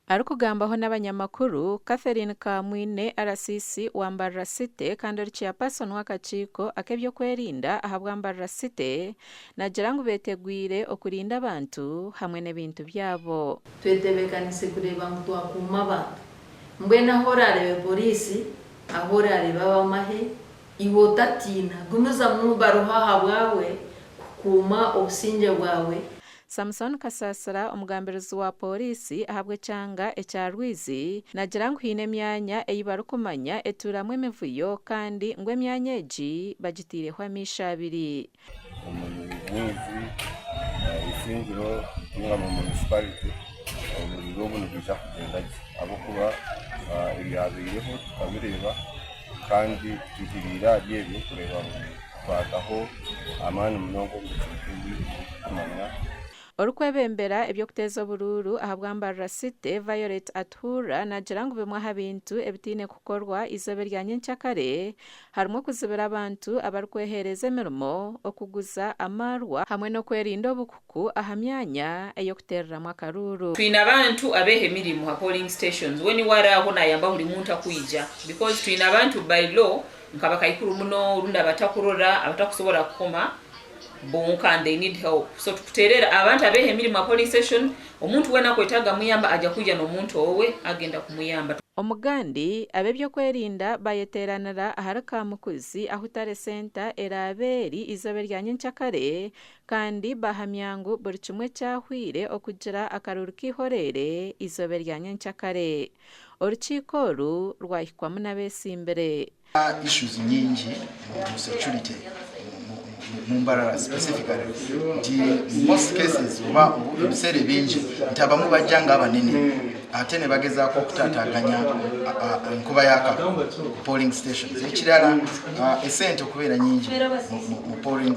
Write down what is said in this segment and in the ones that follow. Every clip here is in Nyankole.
Arikugambaho n'abanyamakuru, Catherine Kamwine, RCC wa Mbarara City kandi ori Chairperson w'akakiiko ak'ebyokwerinda ahabwa Mbarara City, naagira ngu beetegwire okurinda abantu hamwe n'ebintu byabo. Twetebeekanise kureeba ngu twakuuma abantu. Mbwenu ahu oraareebe poriisi, ahu oraareebe ab'amahe, iwe otatiina, gumizamu baruha ahabwawe kukuuma obusingye bwawe. Samson Kasaasira omugambirizi wa pooriisi ahabw'ekyanga ekya Rwizi nagira ngu haine emyanya ei barikumanya etuuramu emivuyo kandi ngu emyanya egi bagitaireho amaisho abiri. Omuri Rwizi Isingiro ningamu munisiparite oburiro obu nibwija kugyenda gye ahabw'okuba ebyabaireho tukabireeba kandi tuhikiriire ahari ebyo kureeba ngu Kwataho amaani munonga omu bicweka ebi orikumanyaho. Orikwebembera eby'okuteeza oburuuru ahabwa Mbarara City, Violet Atuhurra naagira ngu bimwe aha bintu ebitaine kukorwa eizooba erya nyenkya kare harimu okuzibira abantu abarikweheereza emirimo okuguza amaarwa hamwe n'okwerinda obuku. ku aha myanya ey'okuteereramu akaruuru. Twine abantu abeha emirimo ha polling stations, we niwe ari aho nayamba buri muntu akwija because twine abantu by law nka bakaikuru muno orundi abatakurora, abatakusobora kukoma bonka and they need help so tukutereera abantu abeha emirimo ha polling station omuntu wena akwetaaga amuyamba aja kwija n'omuntu owe agenda kumuyamba. Omugandi, Ab'eby'okwerinda bayeteeranira ahari Kamukuzi ahutari senta eraabe eri izooba erya nyencakare Kandi baahamya ngu buri kimwe kyahwaire okugira akaruru kaihoreire eizooba erya nyenkya kare. Orukiiko oru rwahikwamu n'abeetsimbire. issues nyingi mu security mu Mbarara specifically nti most cases oba ebiseera ebingi nti abamwe bajja nga abanene ate nibagezaako okutataganya enkuba ya kalulu ku polling stations ekirala esente okubeera nyingi mu polling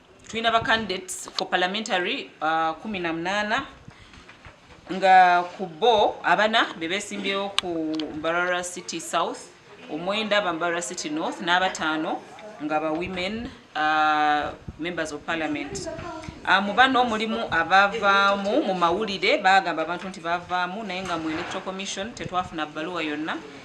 Twine aba candidates for parliamentary kumi na munana nga ku bo abana bebetsimbyeho ku Mbarara City South, omwenda aba Mbarara City North n'abatano nga ba women members of parliament. Mu bano mulimu abavamu mumawulire bagamba abantu nti bavamu naye nga mwena electoral commission tetwafuna baruwa yona